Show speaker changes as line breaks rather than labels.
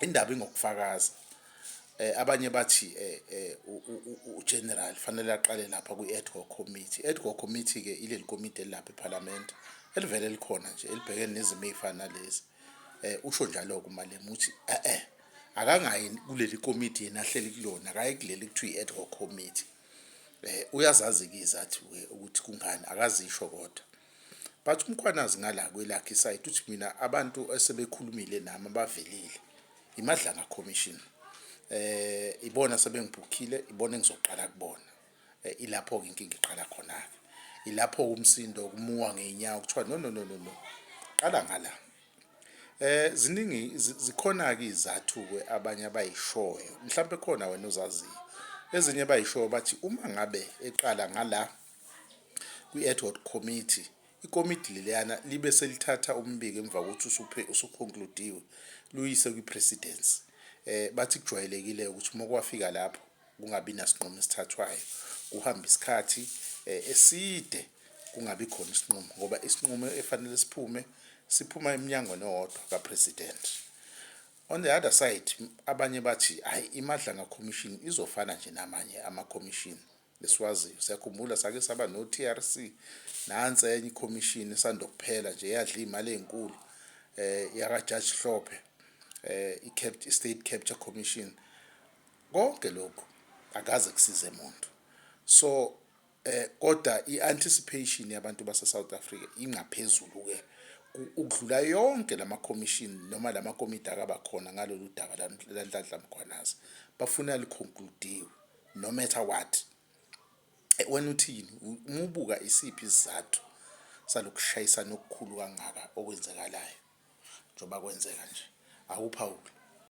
indaba ingokufakaza eh abanye bathi eh, eh ugeneral fanele aqale lapha kwi-ad hoc committee ad hoc committee ke ileli komiti elilapha eparliament elivele likhona nje elibhekene nezimo ezifana nalezi eh usho njalo ke umalema uthi eh eh akangayi kuleli komiti yena ahleli kulona akayi kuleli kuthiwa i-ad hoc committee eh uyazazi ke izathi ukuthi kungani akazisho kodwa but umkhwanazi ngala kwelakhe isayidi uthi mina abantu esebekhulumile nami abavelile imadlanga commission eh ibona sebengibhukhile ibona engizoqala kubona eh, ilapho ke inkinga iqala khona ke ilapho umsindo kumuwa ngeenyawo kuthiwa no no no no no qala ngala eh ziningi zikhona ke izathu ke abanye abayishoyo mhlawumbe khona wena uzaziyo ezinye bayishoyo bathi uma ngabe eqala ngala kwi-ad hoc committee ikomidi leliyana libe selithatha umbiko emva kokuthi usuconcludiwe luyise kwi-presidency eh bathi kujwayelekile ukuthi uma kwafika lapho kungabi nasinqumo esithathwayo kuhamba isikhathi eh, eside kungabi khona isinqumo ngoba isinqumo efanele siphume siphuma eminyangweni owodwa kapresident on the other side abanye bathi hayi imadlanga commission izofana nje namanye ama commission esiwaziyo. Siyakhumbula sake saba no-TRC nansi enye ikhomishini esandokuphela nje yadla iy'mali ey'nkulu eh yakaJudge Hlophe eh i-State Capture Commission konke lokhu akaze kusize muntu so eh kodwa i-anticipation yabantu base-South Africa ingaphezulu-ke ukudlula yonke lama commission noma lama komiti akabakhona ngalolu daba lanhlanhla mkhwanazi bafuna liconcludiwe no matter what eh, wena uthini umubuka isiphi isizathu salokushayisana okukhulu kangaka okwenzekalayo njengoba kwenzeka nje awuphawule